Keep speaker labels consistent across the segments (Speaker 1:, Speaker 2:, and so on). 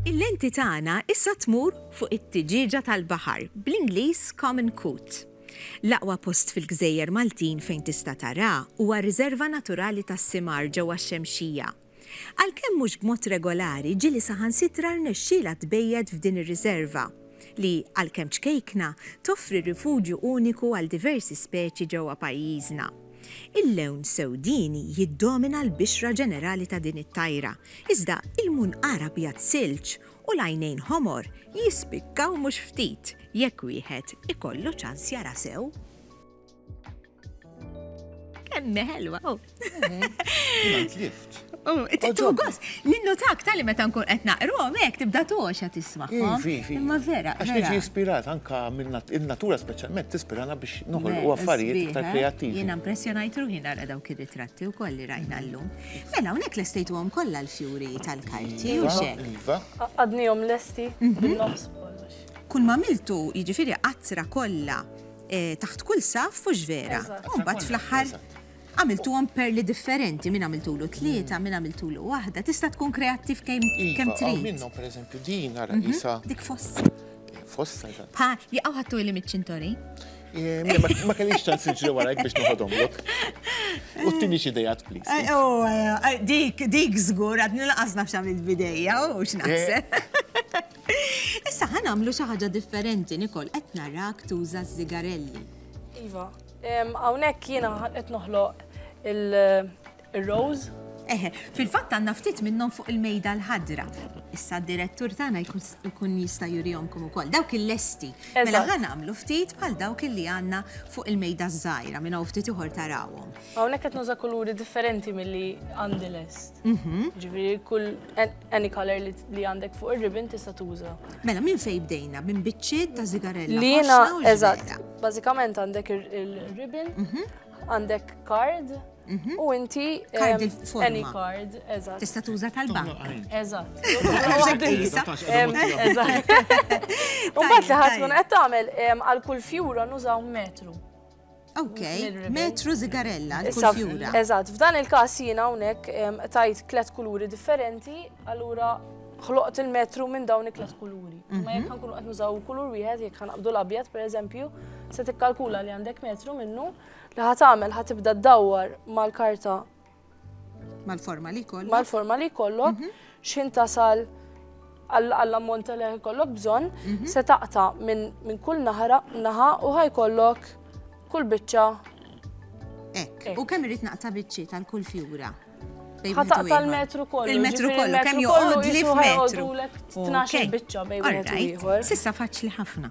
Speaker 1: Il-lenti tagħna issa tmur fuq it-tiġieġa tal-baħar, bl-Ingliż common coot. L-aqwa post fil-gżejjer Maltin fejn tista' taraha huwa r-Riserva Naturali tas-Simar ġewwa x-Xemxija. Għalkemm mhux b'mod regolari, ġieli saħansitra rnexxielha tbejjet f'din ir-riserva, li, għalkemm ċkejkna, toffri rifuġju uniku għal diversi speċi ġewwa pajjiżna. Il-lewn sewdieni jiddomina l-bixra ġenerali ta' din it-tajra, iżda il-munqar abjad silġ u l-għajnejn ħomor jispikkaw mhux ftit jekk wieħed ikollu ċans jara sew. Kemme ħelwa, oh. oh Tittu għos, ninnotak tal-li meta nkun qed naqrom hekk tibda toxa tisma'. Imma vera. Għax niġi ispirat
Speaker 2: anka minn in-natura speċjalment tispirana biex noħolqu affarijiet iktar eh? kreattivi. Jiena impressjonajt ruħi
Speaker 1: nara dawk ir-ritratti wkoll li rajna llum. Mela hawnhekk lestejtuhom kollha l-fjuri tal-karti u xek. Iva. Għadnihom lesti
Speaker 3: mhm. bil-nofs. Kull ma miltu,
Speaker 1: jiġifieri qatra kollha eh, taħt kull saf u vera. Umbat fl-axħar għamiltuhom perli differenti, minn għamiltulu tlieta, minn għamiltulu waħda, tista' tkun kreattiv kemm iva, kemm trid. Minnhom pereżempju din
Speaker 2: ara mhm. isa. Dik fossa. Eh,
Speaker 1: fossa.
Speaker 2: Pa, jaqgħu
Speaker 1: ħattu li miċ-ċintori. Eh,
Speaker 2: ma kellix ċans iġri warajk biex noħodhom lok. U t-tini xidejat, please. Eh, oh, dik,
Speaker 1: dik zgur, għadni laqas nafxam il-bideja, u xnaħseb. Issa ħa nagħmlu xi ħaġa differenti, Nicole, qed narak tuża s-sigarelli. Iva,
Speaker 3: hawnhekk jiena qed noħloq il-rose. Eħe,
Speaker 1: fil-fatt għandna ftit minnhom fuq il-mejda l-ħadra. Issa d-direttur tagħna jkun jista' jurihomkom ukoll. Dawk il-lesti. Mela ħa nagħmlu ftit bħal dawk li għandna fuq il-mejda żgħira minn hawn ftit ieħor tarawhom. Hawnhekk qed nuża kuluri
Speaker 3: differenti milli għandi lest. Mhm. Ġifieri kull Any color li għandek fuq ir-ribbon tista' tuża. Mela minn fej bdejna
Speaker 1: minn biċċiet ta' sigarella. Li jiena eżatt.
Speaker 3: Bażikament għandek ir-ribbon, mhm. għandek card, mhm. U inti card il-forma. Any card, eżatt. Tista' tuża tal-bank.
Speaker 1: Eżatt.
Speaker 3: Eżatt. U bat li ħadd tkun qed tagħmel għal kull fjura nużaw metru. Ok,
Speaker 1: metru zigarella, kull fjura. Eżatt, f'dan il-każ
Speaker 3: jiena hawnhekk tajt tliet kuluri differenti, allura ħloqt il-metru minn dawn it-tliet kuluri. Mhm. Ma jekk nkunu qed nużaw kulur wieħed, jekk ħanqabdu l-abjad pereżempju, se tikkalkula li għandek metru minnu li ħatamel ħatibda ddawwar mal-karta
Speaker 1: Mal-forma li kollok. Mal-forma li kollok,
Speaker 3: mhm. xin tasal għall-ammont li kollok bżon, mhm. se taqta minn kull naħra naħa u ħaj kollok kull bicċa.
Speaker 1: Ek, u kemm irrit naqta bicċi tal-kull fjura? Ħataq
Speaker 3: tal-metru kollu. Il-metru kollu, kemm
Speaker 1: joqgħod li f'metru. 12
Speaker 3: bicċa bejn wieħed u ieħor. Sissa faċli ħafna.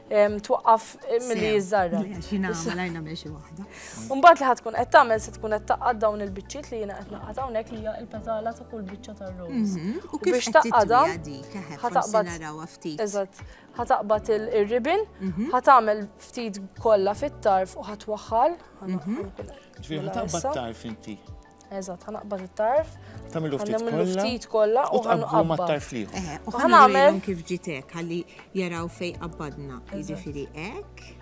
Speaker 3: twaqqaf milli jiżżarra.
Speaker 1: Mbagħad li ħatkun
Speaker 3: qed tagħmel se tkun qed taqqad dawn il-biċċiet li jiena qed naqgħad hawnhekk li hija l-petala ta' kull biċċa tar-rose. Mhm. U biex taqgħadha
Speaker 1: ħataqbad Eżatt. Ħataqbad
Speaker 3: ir-ribbon, mhm. ħatagħmel ftit kollha fit-tarf u ħatwaħħal.
Speaker 2: Mhm. Ġifieri ħataqbad tarf inti. Eżatt, ħanaqbad
Speaker 3: it-tarf. Tagħmlu ftit kollha.
Speaker 2: Tagħmlu ftit kollha
Speaker 3: u ħanqabbu ma' tarf liħu.
Speaker 2: Eh, u ħanagħmel
Speaker 1: kif ġitek ħalli jaraw fej qabbadna. Jiġifieri hekk.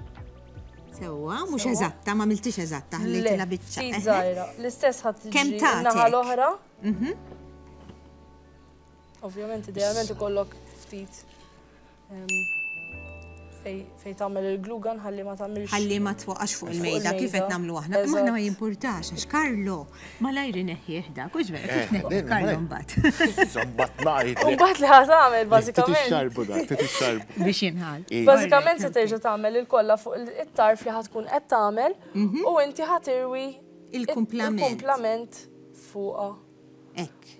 Speaker 1: Sewwa, mhux eżatta, ma miltix eżatta, ħallejtilha biċċa. Eh, eh. L-istess
Speaker 3: ħadd kemm ta' naħa l-oħra. Mhm. Ovvjament idealment ikollok ftit Fej tagħmel il-glugan ħalli ma tagħmilx. Ħalli ma tfoqax fuq
Speaker 1: il-mejda kif qed nagħmlu aħna. Ma aħna ma jimpurtax għax Karlo ma lajri neħjih dak u ġvera kif eh, neħjih Karlo mbagħad. Żambat ngħid.
Speaker 2: Mbagħad li ħad tagħmel
Speaker 3: eh, bażikament. Tixxarbu dak,
Speaker 2: tixxarbu. Biex jinħal. Eh.
Speaker 1: Bażikament se terġa'
Speaker 3: tagħmel il-kollha fuq it-tarf li ħad tkun qed tagħmel mhm. u inti ħatirwi il-kumplament fuqha.
Speaker 1: Hekk.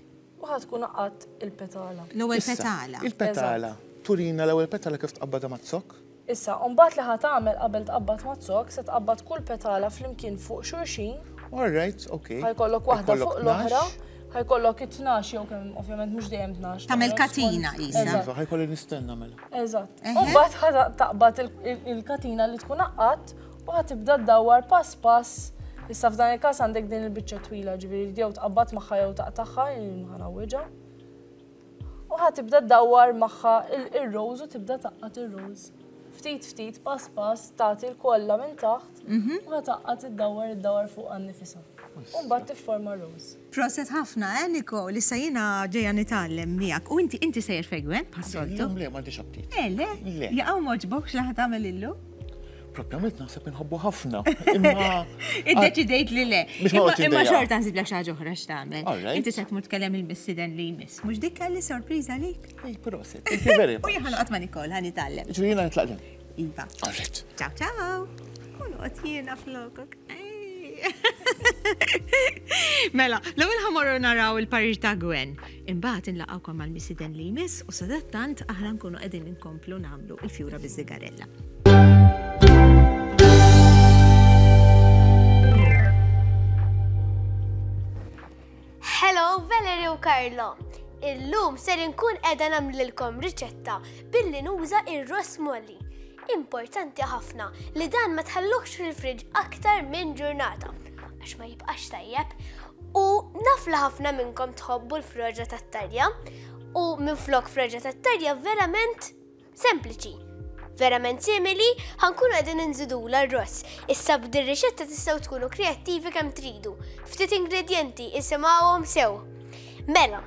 Speaker 1: U ħa tkun
Speaker 3: qaqqadt il-petala. L-ewwel petala.
Speaker 1: Il-petala.
Speaker 2: Turina l-ewwel petala kif tqabbadha maz-zokk. Issa, mbagħad li
Speaker 3: ħa tagħmel qabel tqabbad maz-zokk, se tqabbad kull petala flimkien fuq
Speaker 2: xulxin.
Speaker 3: All right,
Speaker 2: okej.
Speaker 3: Ħa jkollok waħda fuq
Speaker 2: l-oħra.
Speaker 3: Ħa jkollok it-tnax jew kemm, ovvjament mhux dejjem tnax. Tagħmel katina
Speaker 1: qisha. Iva, ħa jkolli nistenna
Speaker 2: mela. Eżatt. U mbagħad
Speaker 3: ħa taqbad il-katina li tkun qaqqadt U ħa tibda ddawwar pass pass, issa f'dan il-każ għandek din il-biċċa twila, ġifieri jew tqabbad magħha jew taqtagħha, ħa nawwiġha. U ħa tibda ddawwar magħha il-rose u tibda taqqat il-rose. Ftit ftit pass pass tagħti l-kollha minn taħt mhm. u ħa taqqat id-dawwar id-dawwar fuq għan-nifisha. U mbagħad tifforma rose. Proset hafna eh
Speaker 1: Niko, lissa jiena ġejja nitgħallem miegħek u inti inti sejjer fegwen bħas-soltu. Illum le m'għandix aptit. Eh
Speaker 2: le? Le. Jaqgħu
Speaker 1: m'għoġbok x'li ħa tagħmel illum? Propjament
Speaker 2: naħseb inħobbu ħafna. Imma. Iddeċidejt
Speaker 1: li le. Biex ma Imma- qodx Imma indejjaq. xorta nsiblek xi ħaġa oħra x'tagħmel. All right. Inti se tmur tkellem il-missiden li jmiss. Mhux dik kelli sorpriża lik. Ej, proset. Thank you
Speaker 2: very U much. jien ħanoqgħod ma' Nikol
Speaker 1: ħa
Speaker 2: nitgħallem.
Speaker 1: Ġri jiena nitlaq ġen.
Speaker 2: Iva. All right.
Speaker 1: Ciao
Speaker 2: ciao.
Speaker 1: Kun qod jiena flokok. Mela, l-ewwel ħamorru naraw il-parir ta' Gwen. Imbagħad inlaqgħukom mal-misiden li jmiss u sadattant aħna nkunu qegħdin inkomplu nagħmlu il-fjura biż-żigarella.
Speaker 4: Hello Valerie u Carlo! Illum ser inkun qiegħda nagħmlilkom riċetta billi nuża ir-ross molli. Importanti ħafna li dan ma tħalluhx fil-friġġ aktar minn ġurnata għax ma jibqax tajjeb u naf li ħafna minnkom tħobbu l-froġa tat-tarja u minn flok froġa tat-tarja verament Sempliċi. Verament simili, ħankunu qegħdin inżidula r-ross. Issa b'din rixetta tistgħu tkunu kreattivi kemm tridu. Ftit ingredjenti isimgħuhom sew. Mela,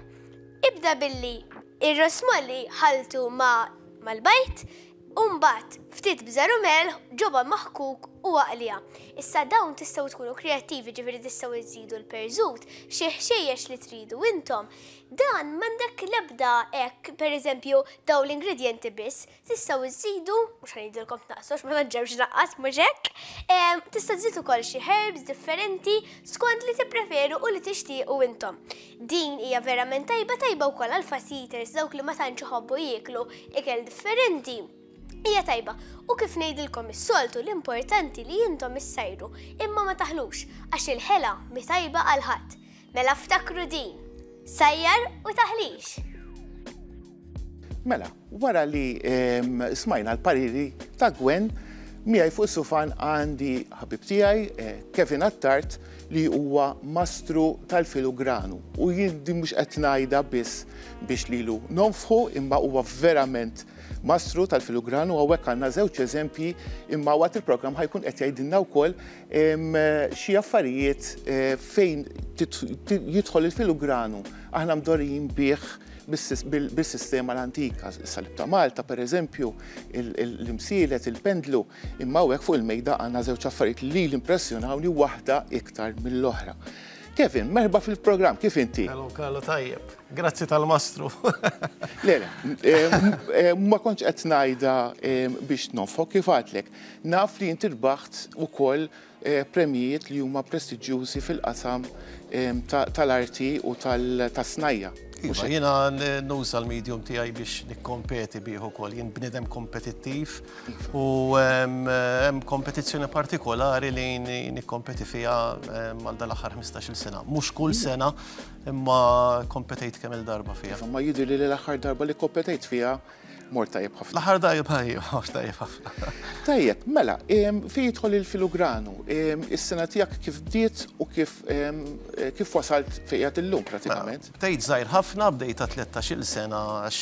Speaker 4: ibda billi ir-ross molli ħaltu ma' mal-bajt, Umbat, ftit bżaru melħ, ġoba maħkuk u għaqlija. Issa dawn tistaw tkunu kreativi ġifiri tistaw iżidu l-perżut, xieħxiex li tridu intom, Dan m'għandek l-ebda hekk, pereżempju, dawn l-ingredjenti biss, tistgħu żżidu, mhux ħanidilkom tnaqqsu għax ma naġġewx naqqas mhux hekk, ehm, tista' żżid ukoll xi herbs differenti skont li tippreferu u li tixtiequ intom. Din hija verament tajba tajba wkoll għal fast eaters dawk li ma tantx iħobbu jieklu ikel differenti. Hija tajba, u kif ngħidilkom is-soltu l-importanti li intom issajru imma ma taħlux għax il-ħela mi tajba għal ħadd. Mela ftakru din, sajjar u taħlix!
Speaker 2: Mela, wara li smajna l-pariri ta' Gwen, miegħi fuq sufan għandi ħabib tiegħi eh, Kevin Attart li huwa mastru tal-filugranu u jindi mhux qed ngħidha biss biex lilu nonfħu imma huwa verament mastru tal-filugranu hawnhekk għandna żewġ eżempji imma waqt il-programm ħajkun qed jgħidilna wkoll xi affarijiet fejn jidħol il-filugranu aħna mdorrijin bih bis-sistema l-antika, is-salib ta' Malta pereżempju, l-imsielet, il-pendlu, imma hawnhekk fuq il-mejda għandna żewġ affarijiet li lili impressjonawni waħda iktar mill-oħra. Kevin, merħba fil-programm, kif inti? Hello Carlo, tajjeb.
Speaker 5: Grazzi tal-mastru. Le, le,
Speaker 2: ma kontx qed ngħidha biex nonfok kif għadlek. Naf li inti rbaħt ukoll premjijiet li huma prestiġjużi fil-qasam tal-arti u tas-snajja', mhux hekk? Iva, jiena
Speaker 5: nuża l-medium tiegħi biex nikkompeti bih ukoll. Jien bniedem kompetittiv u hemm kompetizzjoni partikolari li nikkompeti fiha għal dan l-aħħar ħmistax-il sena. Mhux kull sena, imma kkompetejt kemm-il darba fiha. Iva, imma jidhirli li l-aħħar
Speaker 2: darba li kkompetejt fiha Mort tajjeb ħafna. L-aħħar darba tajjeb,
Speaker 5: mort tajjeb ħafna. Tajjeb, mela,
Speaker 2: fi jidħol il-filugranu, is-sena tiegħek kif bdiet u kif kif wasalt fejqed illum pratikament? Mela, bdejt żgħir ħafna,
Speaker 5: bdejt ta' 13-il sena għax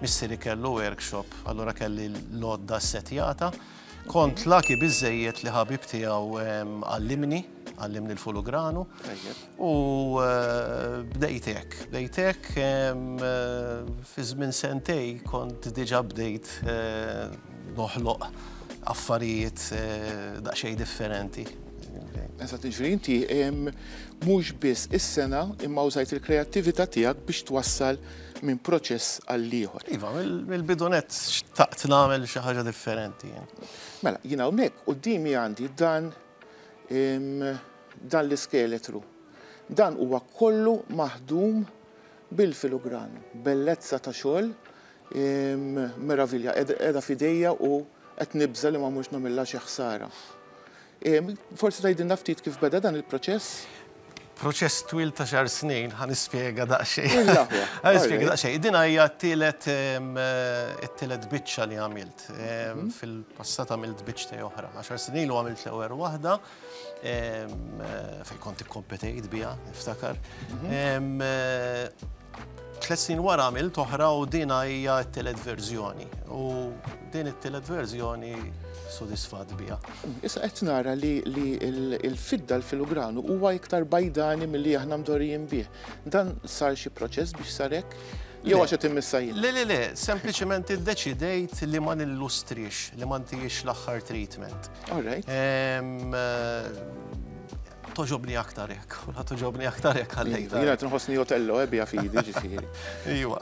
Speaker 5: missieri kellu workshop, allura kelli l-lodda setjata. Kont lucky biżżejjed li ħabib tiegħu għallimni, għallimni l-fulugranu. U bdejt hekk, bdejt hekk fi żmien sentej kont diġà bdejt noħloq affarijiet daqsxejn differenti. Eżatt,
Speaker 2: jiġifieri inti mhux biss is-sengħa imma użajt il-kreattività tiegħek biex twassal minn proċess għal ieħor. Iva, mill-bidunett
Speaker 5: xtaqt nagħmel xi ħaġa differenti jien. Mela, jien
Speaker 2: hawnhekk qudiemi għandi dan dan l-iskeletru. Dan huwa kollu maħdum bil-filugran, bellezza ta' xogħol meravilja, qiegħda fidejja u qed nibża li ma mhux nagħmilha xi ħsara. Forsi tgħidilna ftit kif beda dan il-proċess? Proċess
Speaker 5: twil ta' xar snin, ħa nispjega daqsxejn. Ħa nispjega
Speaker 2: daqsxejn. Din
Speaker 5: hija t-tielet it-tielet biċċa li għamilt. Fil-passat għamilt biċċtej oħra. Għaxar snin ilu għamilt l-ewwel waħda fejn kont ikkompetejt biha, niftakar. Tliet snin wara għamilt oħra u din hija t-tielet verżjoni. U din it-tielet verżjoni sodisfat biha. Issa qed nara
Speaker 2: li l-fidda l-filugranu huwa iktar bajdani milli aħna mdorrijin bih. Dan sar xi proċess biex sarek? Jew għax qed immissa jien. Le, le, le, sempliċement
Speaker 5: iddeċidejt li ma nillustrix, li ma ntijiex l-aħħar treatment. All
Speaker 2: right.
Speaker 5: Toġobni aktar hekk, u la toġobni aktar hekk għalli. Jiena qed nħossni Otello
Speaker 2: ebbi eh, fidi ġifieri. Iwa.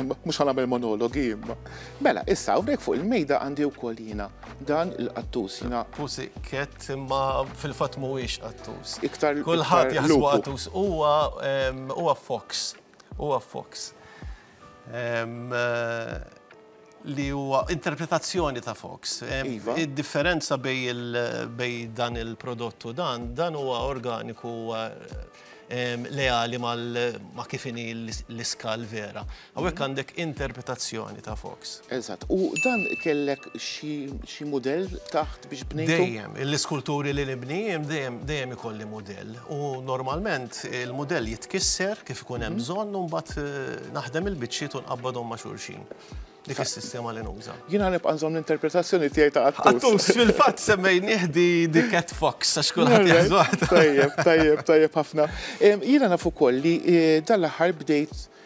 Speaker 5: Mhux ħa nagħmel
Speaker 2: monologi imma. Mela, issa hawnhekk fuq il-mejda għandi wkoll jiena dan il-qattus jiena. Pusi kett
Speaker 5: imma fil-fatt mhuwiex qattus. Iktar kulħadd
Speaker 2: jaħsbu
Speaker 5: qattus huwa huwa fox. Huwa fox. li huwa interpretazzjoni ta' Fox. Iva. Id-differenza bej dan il-prodott u dan, dan huwa organiku leali ma' kif inhi l-iskal vera. Hawnhekk għandek interpretazzjoni ta' Fox. Eżatt. U dan
Speaker 2: kellek xi mudell taħt biex bnejtu? Dejjem, l-iskulturi
Speaker 5: li nibni dejjem dejjem ikolli mudell. U normalment il-mudell jitkisser kif ikun hemm mhm. bżonn u mbagħad eh, naħdem il-biċċiet u nqabbadhom ma' xulxin. Dik is-sistema li nuża. Jien ħanib nżomm
Speaker 2: l-interpretazzjoni tiegħi ta' għattus. Għattus fil-fatt
Speaker 5: semmej nieħdi di Cat Fox għax kulħadd jaħżuha. Tajjeb, tajjeb,
Speaker 2: tajjeb ħafna. Jiena nafu koll li eh, dal-aħħar bdejt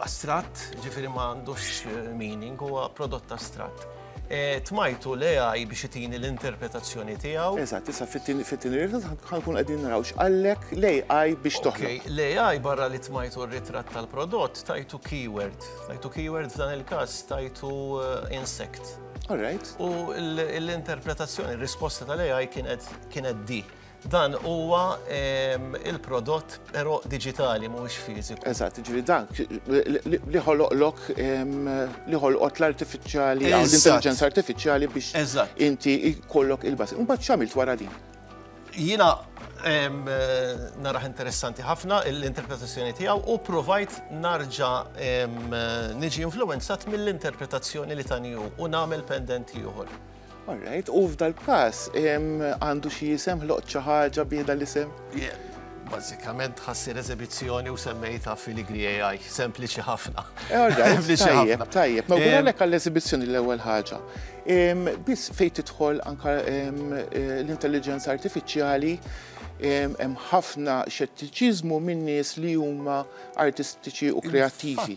Speaker 5: astratt, ġifieri ma għandux meaning, huwa prodott astratt. Tmajtu l-AI biex itini l-interpretazzjoni tiegħu. Eżatt, issa
Speaker 2: fit-tieni ritratt ħankun qegħdin naraw x'qallek l-AI biex toħloq. L-AI barra li
Speaker 5: tmajtu r-ritratt tal-prodott tajtu keyword. Tajtu keyword f'dan il-każ tajtu insect. All right.
Speaker 2: U
Speaker 5: l-interpretazzjoni, r-risposta tal-AI kienet di. Dan huwa il-prodott però diġitali mhuwiex fiżiku. Eżatt, ġifieri dan
Speaker 2: li ħoloqlok li ħolqot l-artifiċjali jew l-intelliġenza artifiċjali biex inti jkollok il-bażi. Imbagħad x'għamilt wara din? Jiena
Speaker 5: naraħ interessanti ħafna l-interpretazzjoni tiegħu u provajt narġa niġi influenzat mill-interpretazzjoni li tani u nagħmel pendenti ieħor. All right, u
Speaker 2: f'dal-każ għandu xi isem ħloqt xi ħaġa bih dal-isem? Bażikament
Speaker 5: ħassir eżibizzjoni u semmejta fil-Igri AI, sempliċi ħafna. All right,
Speaker 2: tajjeb, tajjeb. Ma għalek għall-eżibizzjoni l-ewwel ħaġa. Biss fejn tidħol anka l-intelligenza artifiċjali hemm ħafna xettiċiżmu minn nies li huma artistiċi u kreattivi.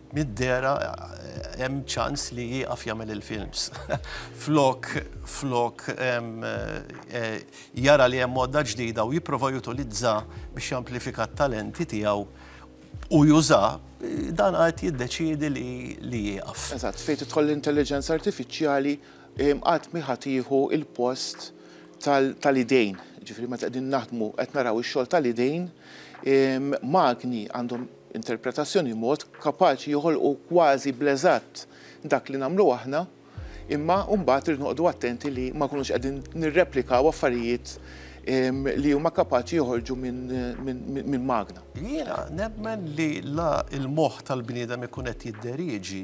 Speaker 5: Mid-dehra hemm ċans li jieqaf jagħmel il-films. Flok flok jara li hemm għodda ġdida u jipprova jutilizza biex jamplifika t-talenti tiegħu u juża, dan qatt jiddeċiedi li jieqaf. Eżatt, fejn tidħol
Speaker 2: l-intelliġenza artifiċjali qatt mhi ħa tieħu l-post tal-idejn. Jiġifieri meta qegħdin naħdmu qed naraw ix-xogħol tal-idejn, magni għandhom, interpretazzjoni mod kapaċi joħolqu kważi bl-eżatt dak li nagħmlu aħna, imma mbagħad irridu noqogħdu attenti li ma nkunux qegħdin nirreplikaw affarijiet li huma kapaċi joħorġu minn magna. Jiena nemmen
Speaker 5: li la l-moħħ tal-bniedem ikun qed jidderieġi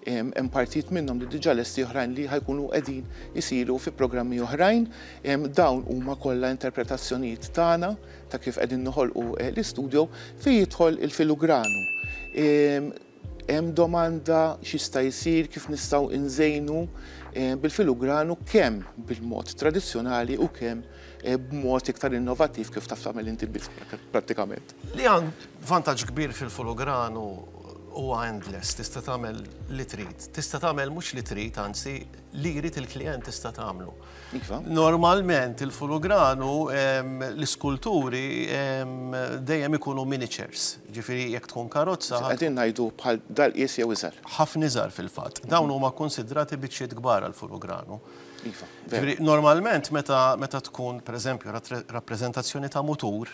Speaker 2: Hemm partijiet minnhom li diġà lesti oħrajn li ħa jkunu qegħdin isiru fi programmi oħrajn. Dawn huma kollha interpretazzjonijiet tagħna ta' kif qegħdin noħolqu eh, l-istudio fejn jidħol il-filugranu. Hemm domanda x'jista' jsir kif nistgħu nżejnu eh, bil-filugranu kemm bil-mod tradizzjonali u kemm b'mod iktar innovattiv kif taf tagħmel inti b'idejk, prattikament. Li għan
Speaker 5: vantaġġ kbir fil-fologram huwa endless, tista' tagħmel li trid. Tista' tagħmel mhux li trid, anzi, li jrid il-klijent tista' tagħmlu. Iva. Normalment il-fologram l-iskulturi dejjem ikunu miniatures, ġifieri jekk tkun karozza. Qegħdin ngħidu bħal
Speaker 2: daqqies jew iżgħar. Ħafna iżgħar fil-fatt.
Speaker 5: Dawn huma kkunsidrati biċċiet kbar għall-fologram. Iva. Normalment meta tkun pereżempju rappreżentazzjoni ta' mutur,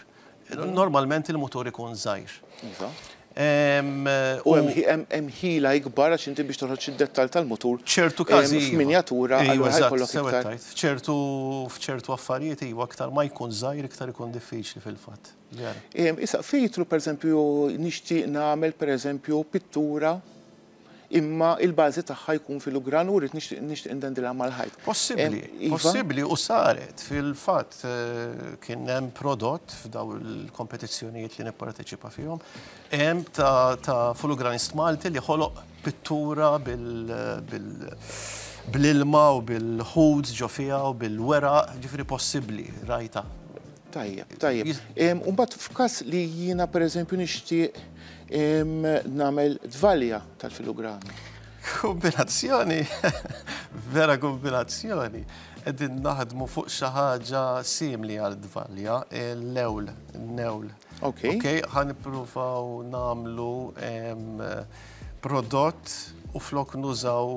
Speaker 5: normalment il-mutur ikun żgħir.
Speaker 2: Iva. U hemm ħila ikbar għax inti biex toħroġ id-dettal tal-mutur. ċertu każi. Iva.
Speaker 5: Minjatura għal
Speaker 2: ħajkollok iktar. ċertu
Speaker 5: f'ċertu affarijiet iva aktar ma jkun żgħir iktar ikun diffiċli fil-fatt. Issa
Speaker 2: fejtru pereżempju nixtieq nagħmel pereżempju pittura imma il-bażi tagħha jkun fil-ugran u rrid nixtieq nixtieq indendilha mal-ħajt. Possibbli, possibbli
Speaker 5: u saret fil-fatt kien hemm prodott f'daw il-kompetizzjonijiet li nipparteċipa fihom hemm ta' fulugranist Malti li ħoloq pittura bil bl-ilma u bil-ħut ġo fiha u bil-weraq, ġifieri possibbli, rajtha. Tajjeb,
Speaker 2: tajjeb. U mbagħad f'każ li jiena pereżempju nixtieq nagħmel dvalja tal-filugrammi. Kombinazzjoni,
Speaker 5: vera kombinazzjoni. Qegħdin naħdmu fuq xi ħaġa simli għal dvalja, l-ewl, n-ewl. Ok. Ok, ħan ippruvaw nagħmlu prodott u flok nużaw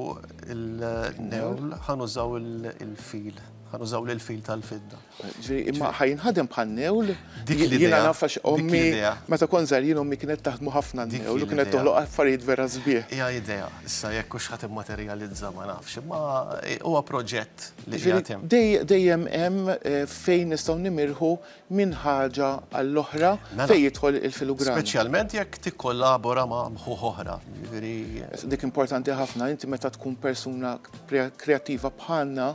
Speaker 5: il-newl, ħan użaw il-fil, ħan użaw l-fil tal-fidda. Imma
Speaker 2: ħajnħadem bħal newl. Dik li jiena nafax ommi. Meta kon żarin ommi kienet taħdmu ħafna newl u kienet toħloq affarijiet vera sbieħ. Hija idea, issa
Speaker 5: jekk hux ħadd immaterjalizza ma nafx, imma huwa proġett li qiegħed hemm. Dejjem hemm
Speaker 2: eh, fejn nistgħu nimirħu minn ħaġa għall-oħra mela. fejn jidħol il-filugran. Speċjalment jekk
Speaker 5: tikkollabora ma' mħuħ oħra. Dik
Speaker 2: importanti ħafna, inti meta tkun persuna kreattiva bħalna,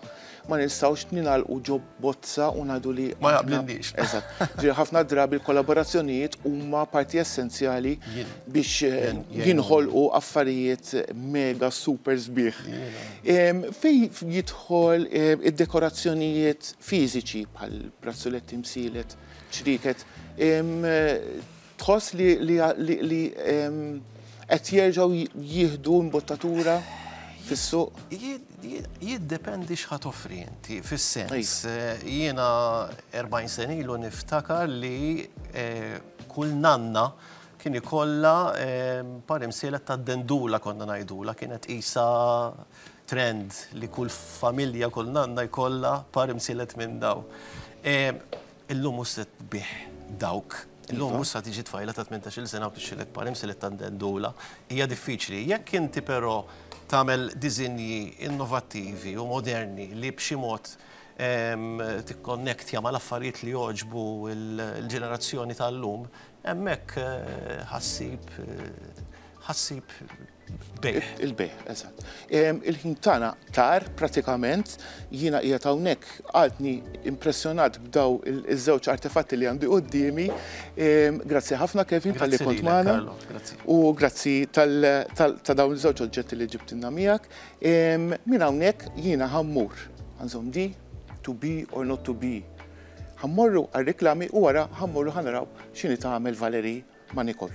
Speaker 2: ma nistgħux ningħalqu ġo bozza u ngħidu li ma naqblilniex. Eżatt.
Speaker 5: Ġifieri ħafna
Speaker 2: drabi l-kollaborazzjonijiet huma parti essenzjali biex eh, jinħolqu affarijiet mega super sbieħ. Fej jidħol eh, id-dekorazzjonijiet fiżiċi bħal brazzuletti msilet, ċriket, Tħoss li li li li em, qed jerġgħu ji- jieħdu imbottatura fis-suq? Jid- jid-
Speaker 5: Jiddependi x'ħa toffri inti, fis-sens eh, jiena 40 sena ilu niftakar li eh, kull nanna kien ikollha eh, par imsielet ta' dendula konna ngħidulha, kienet qisha trend li kull familja, kull nanna jkollha par imsielet minn daw. Eh, Illum mhux se tbigħ dawk. Illum mhux se tiġi tfajla ta' tmintax-il sena u tixxillek parim se li tandendula. Hija diffiċli. Jekk inti però tagħmel diżinji innovattivi u moderni li b'xi mod tikkonnektja mal-affarijiet li jogħġbu l-ġenerazzjoni tal-lum, hemmhekk ħa ssib ħa ssib bejħ. Il-bejħ, eżatt.
Speaker 2: Il-ħin tagħna tar pratikament jiena qiegħed hawnhekk għadni impressjonat b'daw iż-żewġ artefatti li għandi qudiemi. Grazzi ħafna Kevin tal-li kont magħna. U grazzi ta' dawn iż-żewġ oġġetti li ġibtinna miegħek. Minn hawnhekk jiena ħammur. Għanżom di, to be or not to be. Ħammorru għal reklami u wara ħammorru ħanaraw x'inhi tagħmel Valeri ma' Nikol.